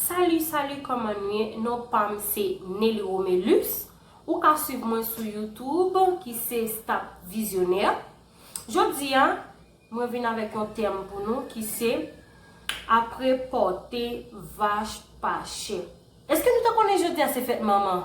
Salut salut kòman nu ye non pam se Nelly Romelus ou ka swiv mwen sou youtube ki se stop visionnaire jodi a mwen vin avèk yon tèm pou nou ki se apre pòte vach pa chè eske nou te konnen jodi a se fèt manman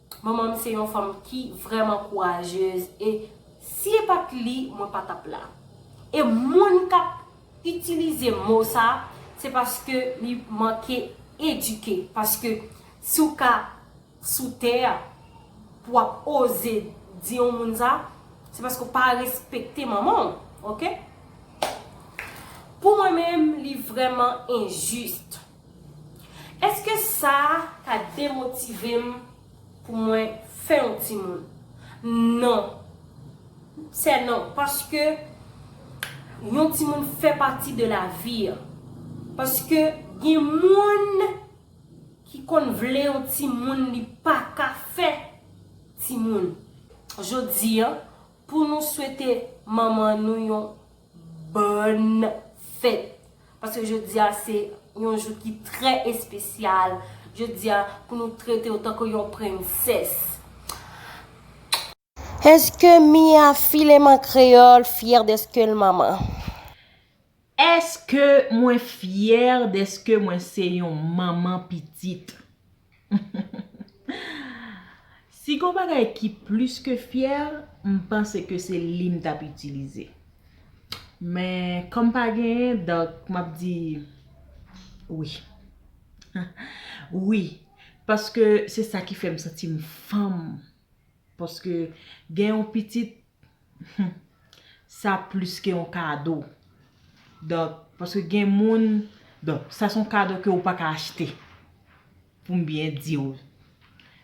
Manman m se yon fanm ki vrèman kourajez e si e pat li mwen pa tap la. E moun kap itilize mo sa se paske li manke edike paske si w ka sou tè a pou wap oze di yon moun sa se paske w pa respekte manman w ok. Pou mwen menm li vrèman injuste. Èske sa ta demotive m pou mwen fè yon timoun? Non. Sè non. Paske yon timoun fè pati de lavi an. Paske gen moun ki konn vle yon timoun li pa ka fè timoun. Jodi an, pou nou swete manman nou yon bòn fèt. Paske jodi a se yon jou ki trè espesyal. Jodi a pou nou trete w tankou yon prensès. Eske Mia filem an kreyol fier deske l manman? Eske mwen fier deske mwen se yon manman pitit? Si gon bagay ki plis ke fyèl, m panse ke se li m tap itilize. Men, kòm pa genyen, donk m ap di wi. Wi, paske se sa ki fè m santi m fanm. Paske gen yon pitit Humm sa plis ke yon kado donk paske gen moun donk sa son kado ke ou pa ka achte pou m byen di w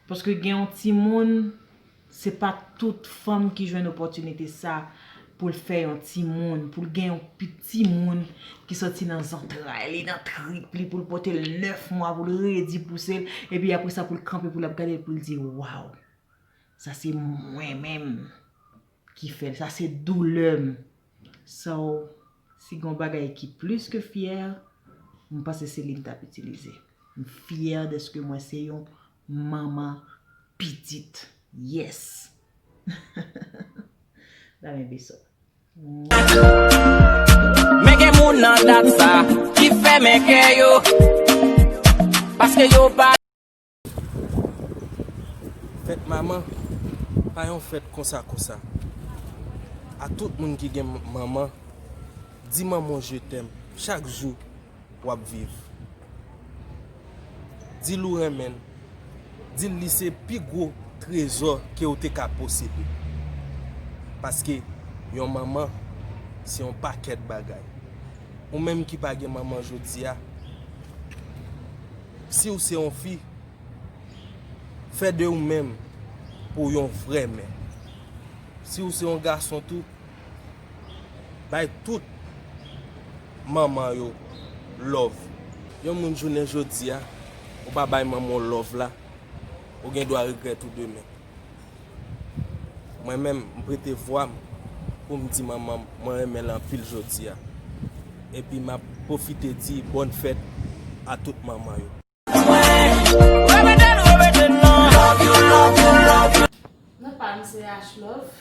paske gen yon timoun se pa tout fanm ki jwenn opotinite sa pou l fè yon timoun pou l gen yon piti moun ki soti nan zantray li nan trip li pou l pote l 9 mwa pou l redi pouse l epi apresa pou l kanpe pou l ap gade l pou l di waw. Sa se mwen menm ki fèl, sa se doulèm. So, si gon bagay ki plis ke fyè, m panse se li m tap itilize. M fyè deske mwen se yon manman pitit. Yes! Ba mwen beso. Men gen moun nan dat sa ki fèmen kè yo paske yo pa. Fèt manman pa yon fèt konsa konsa. A tout moun ki gen manman, di manman w je t'aime chak jou wap viv. Di l ou renmen l, di l li se pi gwo trezò ke ou te ka posede. Paske yon manman se yon pakèt bagay. Ou menm ki pa gen manman jodi a. Siw se yon fi, fè de ou menm pou yon vrè mè. Siw se yon gason tou, bay tout manman yo love. Yon moun jounen jodia ou pa bay manman w love la, ou gen dwa regrèt ou demen. Mwen menm m prete vwa m pou m di manman m mwen renmen l anpil jodi a. Epi m ap pwofite di bòn fèt a tout manman yo. Non pa m se Ashlove.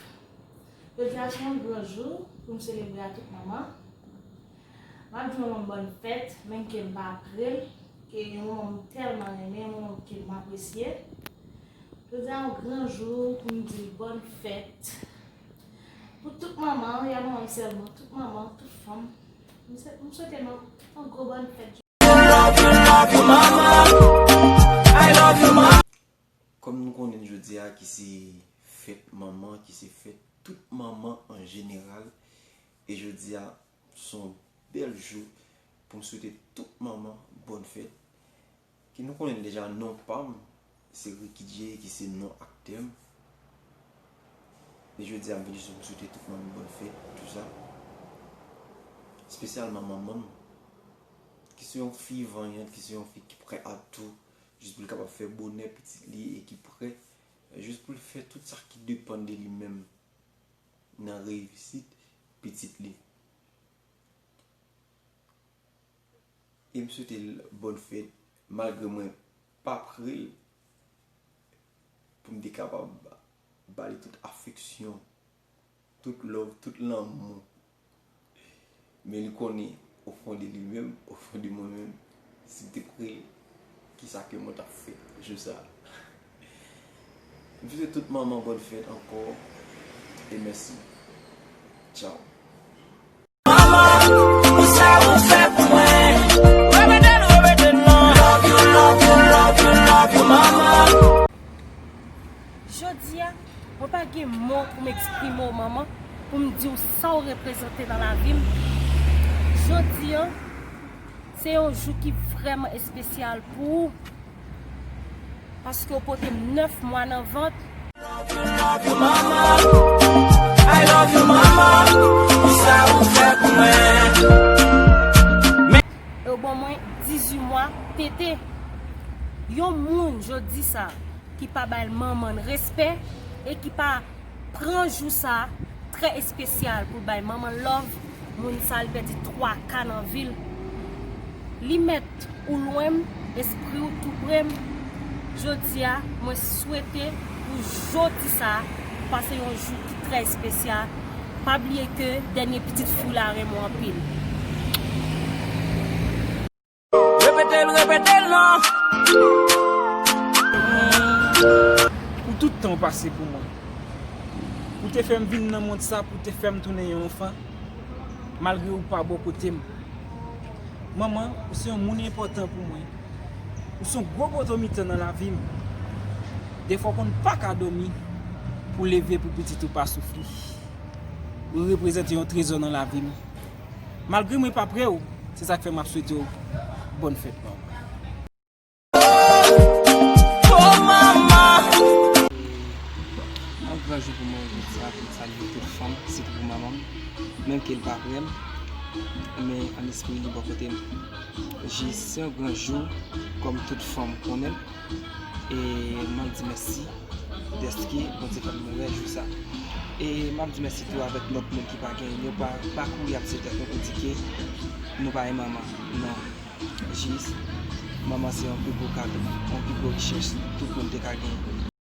Jodi a se yon gran jou pou m selebre a tout manman. Map di manmanm bòn fèt menm kem pa prel e yon manman m tèlman renmen yon manman m kem apresye jodia yon gran jou pou m dil bòn fèt pou tout manman ya manmanm sèlman tout manman tout fanm m swete nou yon gwo bòn fèt jodia. Kòm nou konnen jodia ki se fèt manman ki se fèt tout manman an jeneral e jodia Son bèl jou pou m swete tout manman bòn fèt ki nou konnen deja non pa m se Ricky-J ki se non aktè m men jodi a m vin jis pou m swete tout manman bòn fèt pou jou sa spesyalman manman m ki se yon fi vanyant ki se yon fi ki prè a tou jis pou l kapab fè bonè pitit li e ki prè jis pou l fè tout sa ki depann de li menm. nan reyisit pitit li. E m swete l bòn fèt malgre mwen pa pre l pou m te kapab ba li tout afeksyon, tout love, tout lanmou. Men li konnen ofon de li menm, ofon de mwen menm, si m te pre l, ki sa ke mwen t ap fè jou sa a. M swete tout manman bòn fèt ankò e mèsi. Tchaw! Jodi a, mwen pa gen mo pou m eksprime w manman, pou m di w sa w reprezante nan lavi m. Jodi an, se yon jou ki vrèman espesyal pou ou, paske w pote m 9 mwa nan vant. E w ban mwen 18 mwa tete. Yon moun jodi sa. ki pa bay manman l respè e ki pa pran jou sa trè espesyal pou l bay manman l lòv, moun sa li pèdi 3 ka nan vi l. Li mèt ou lwen m, espri w tou pre m. Jodi a, mwen swete pou jodi sa ou pase yon jou ki trè espesyal. Pa bliye ke dènye pitit fi w la renmen w anpil. Repete l, repete l non! Pou tout tan ou pase pou mwen. Ou te fè m vin nan mond sa pou w te fè m tounen yon anfan, malgre ou pa bò kote m. Manman, ou se yon moun enpòtan pou mwen. Ou se yon gwo poto mitan nan lavi m. Defwa w konn pa ka dòmi pou w leve pou pitit ou pa soufri. Ou reprezante yon trezò nan lavi m. Malgre mwen pa pre w. Se sak fe map swete w bonne fête mama. Se yon gran jou pou mwen jodi a pou m salye tout fanm sitou pou manman m menm ke l pa pre m men an espri li bò kote m. Se yon gran jou kòm tout fanm konnen l. e mwen di mèsi dèske Bondye fè m wè jou sa e m ap di mèsi tou avèk lòt moun ki pa gen yo pa kouri ap tiye tèt nou pou di ke nou pa gen manman non jis manman se yon pi gwo kado yon pi gwo richès tout moun te ka gen.